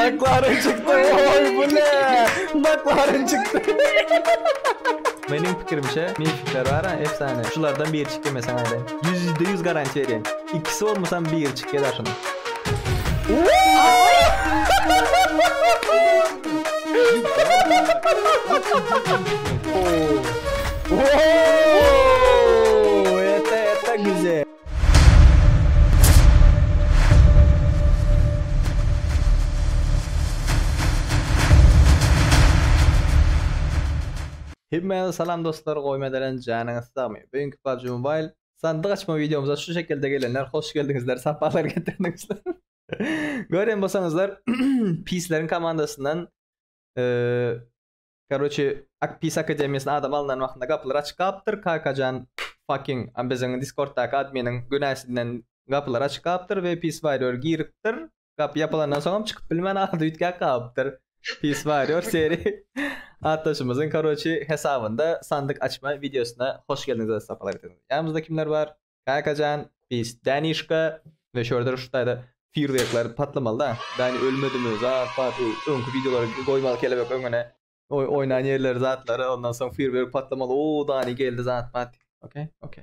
Maklaryn çykdy oy bu ne? Maklaryn çykdy. Meniň pikirimçe mifler bar a efsane şulardan biri çyk demesen aýda. Ýüzde ýüz garantiýa berýän. Ikisi bolmasam biri çyk ýazar şunuň. Ooo. Ooo. Ete ete güzel. Hemmäňize salam dostlar goýum ederen janyňyz sagmy bu günki PUBG Mobile sandyk açma wideomyza şu şekilde gelenler hoş geldiňizler sapalar getirdiňizler gören bolsaňyzlar pisleriň komandasyndan Karoçe ak pis akademiýasyna adam alnan wagtynda gapylar açyk galypdyr kakajan fucking a biziň diskortdaky adminiň günäsinden gapylar açyk galypdyr we pis warrior giripdir gapy ýapylandan soňam çykyp bilmän arada üýtgäp galypdyr pis warrior seri atdaşymyzyň karoçe hesabynda sandyk açma wideosyna hoş geldiňiz öz sapalar ýanymyzda kimler bar Kakajan pis Danişka we şordur şu taýda firwekler patlamalyda Dani ölmedimi zat bar şu öňki wideolary goýmaly kelebek öňüne oý oýnan ýerleri zatlary ondan soň firwek patlamaly o Dani geldi zat bat ok ok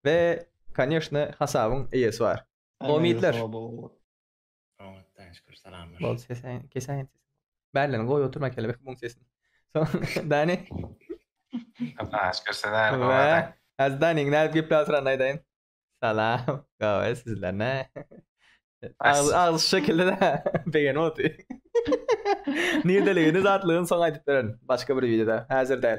we konýeşne hasabyň eýesi bar Omidler. Oňatdan şükür salamlar. Bol sesen kesäýen sesi. Bärlerini goý oturma kelebek muň sesini. Soň Dani. Allah'a şükür sen aýry Ve gowadan. az Daniň nädip gepläsirän aýdaýyn. Salam. Gawa sizler ne? Agzy agzy şu şekilde de begenip otyr. Nirdeligini zatlygyny soň aýdyp bererin. Başga bir wideoda. Häzir däl.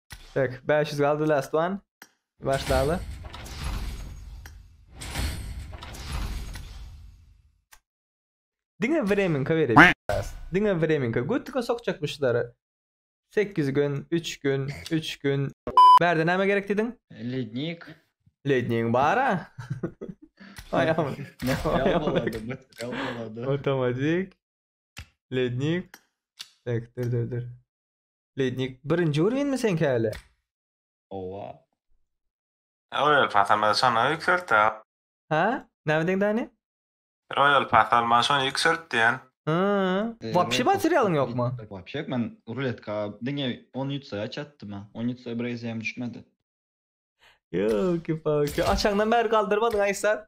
Tak, 500 galdy last one. Başlaly. Diňe vremenka berip. Diňe vremenka. Götüňe sokjak bu şulary. 8 gün, 3 gün, 3 gün. Bärde näme gerek diýdiň? Lednik. Ledniň bara. Aýam. Material bolady, material bolady. Otomatik. Lednik. Tak, dur, dur, dur. Leýtnik birinji urowenmi seňki häli? Owa. Royal pass almasa şonda ýükselt da. Hä? Näme diýiň Dani? Royal pass alman şony ýükselt diýen. Hää. Wapşe materialyň ýokmy? Wapşe ýok men ruletka diňe on ýutsa çatdym ha. On ýutsa bir eziýem düşmedi. Ýoki paki. Açandan bäri galdyrmadyň Aýsat.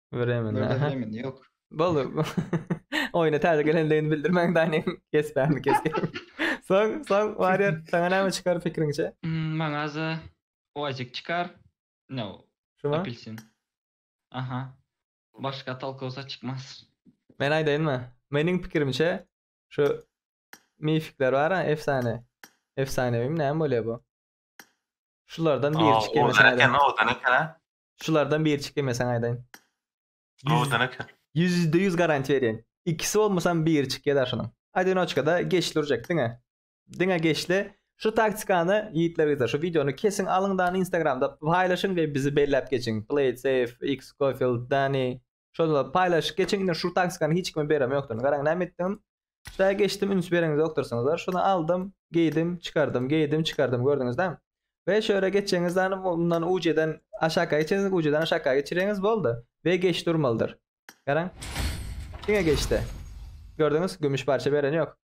Bremen. Bremen yok. Boldy. Oyuna täze gelendigini bildirmäň Dani. Kes bämi kes. Soň, soň Warrior sana näme çykar pikiriňçe? Hmm, maňa za oazik çykar. No. Şuma? Apelsin. Aha. Başga tolkosa çykmaz. Men aýdaýynmy? Meniň pikirimçe şu mifikler bar, efsane. Efsanewimi näme bolýar bu? Şulardan biri çykyp ýörse. Owdan eken, owdan eken. Şulardan biri çykdy men saňa aýdaýyn. Ýüz Gowudan eken. ýüzde ýüz garantiýa berýän. Ikisi bolmasam biri çykýada şunuň. Adinoçkada geçli urjak diňe. Diňe geçli. Şu taktikany ýigitler gyzlar şu wideony kesiň alyň dany instagramda paýlaşyň we bizi belläp geçiň. Played safe, X Scofield, Dani, Şonda paýlaşyp geçiň indi şu taksikan hiç kime berem ýokdun. Garaň näme etdim. Şaýa geçdim üns bereňiz ýokdursyňyzlar. Şony aldym, geýdim, çykardym, geýdim, çykardym gördüňizda. We şu ýere geçeňiz dany mundan ujeden aşaka geçeňiz, ujeden aşaka geçireňiz boldy. We geçdi urmalydyr. Garaň. Diňe geçdi. Gördüňiz gümüş parça bereni ýok.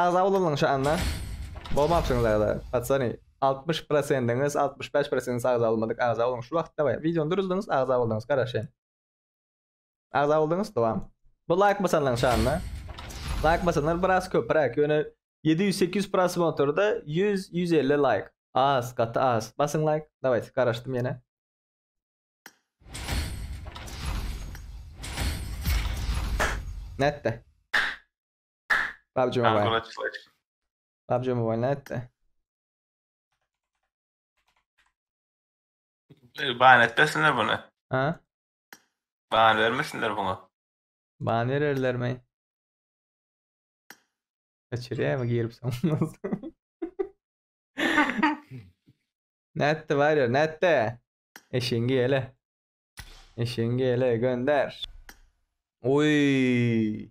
Agza bolanyň şanyna. Bolmapsyňyz agza. Patsany 60 prosendiňiz, 65 prosendiňiz agza bolmadyk. Agza boluň şu wagt daway. Wideony duruzdyňyz, agza boldyňyz. Garaşýan. Agza boldyňyz, dowam. Bu laýk basanlaň şanyna. Laýk basanlar biraz köpräk. Ýöne 700-800 prosmotrda 100-150 laýk. Az, gaty az. Basyň laýk. Dawayt, garaşdym ýene. Netde. PUBG Mobile. Congratulations. PUBG Mobile nätdi? Ban etmesinler bunu. Ha? Ban vermesinler buna. Ban bererler mi? Kaçırýar mı girip sanmaz. nätdi var ya nätdi? Eşeğingi hele. Eşeğingi hele gönder. Oy.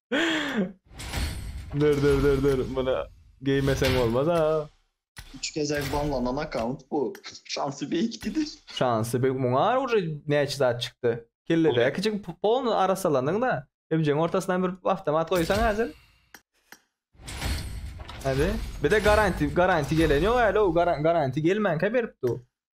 Dur dur dur dur. Muny geýmeseň bolmaz ha. Üç gezek banlanan akkaunt bu. Şansy beýik diýdi. Şansy beýik. Muňa uje näçe zat çykdy. Kelledäki kiçi polny arassalandyň-da. Ebjegiň ortasyndan bir awtomat goýsaň häzir. Hadi. Bir-de garanti, garanti gelen ýok häli-ow. Garanti gelmänkä beripdi-ow.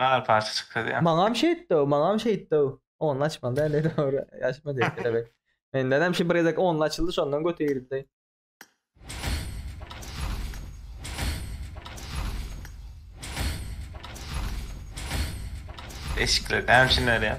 Bar parça çykdy ya. Maňam şeýtdi, maňam şeýtdi. Only açmaly däl edi ora. Açma diýip kelebek. Menden hem şu bir gezek only açyldy, şondan göte girdi. Eşikler hem şunlar ya.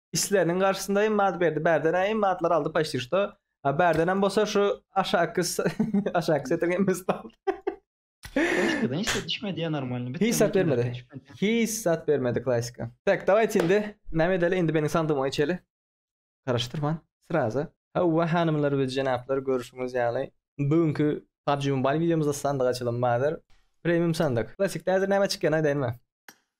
isleriniň garşysynda hem mat berdi. Bärden hem matlar aldy paşti şto. A bärden hem bolsa şu aşaky aşaky setin hem biz aldy. Klasikadan hiç zat düşmedi ya normalni. Hiç zat bermedi. Hiç zat bermedi klasika. Tak, dawayt indi. Näme edeli? Indi meniň sandygyma geçeli. Garaşdyrman. Sraza. Hawa hanymlar we jenaplar görüşüňiz ýaly. Bu günki PUBG Mobile videomyzda sandyk açylym bardyr. Premium sandyk. Klasikde häzir näme çykýan aýdaýynmy?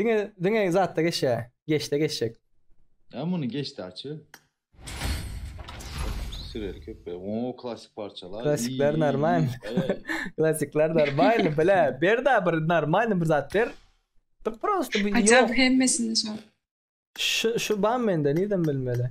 Diňe diňe zatda geçýär. Geçde geçjek. Ya muny geçdi açy. Süreli köpe. Oo klasik parçalar. Klasikler normal. Klasikler normal. Bile bir da bir normal bir zat ber. Dur prosto bir yok. Acaba hemmesini şu. Şu şu ban mende neden bilmeli?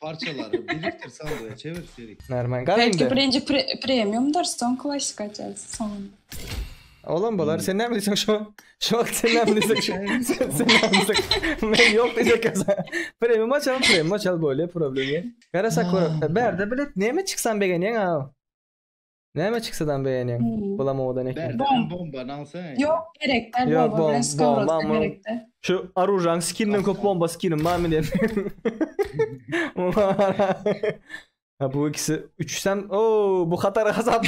Parçalary birikdir sandyga çevir seri. Hünärmen gaz Belki indi. birinji pre premiumdyr, soň klassyk açarys soňunda. Olam bolar. Hmm. Sen näme diýseň şo. Şu wagt sen näme diýseň şo. Sen sen näme diýseň. Men ýok diýjek ýa-da. Premium açalım, premium açal bolýar, problem ýok. Garasak görek. Bärde bilet näme çyksan begenýäň aw. Näme çiksadan beýenýäň? Bulam owadan eken. Bom. Ýok gerekde bomba bilen skowrodka gerekde. Şu aružaň skinden köp bomba skinim barmy diýen. Ha bu ikisi üçsem o bu hatar hasap.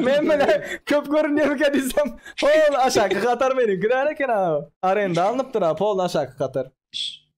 Men mene köp görünýär eken diýsem. Pol aşaky hatar meniňki däl eken ha. Arenda alnypdyr ha pol aşaky hatar.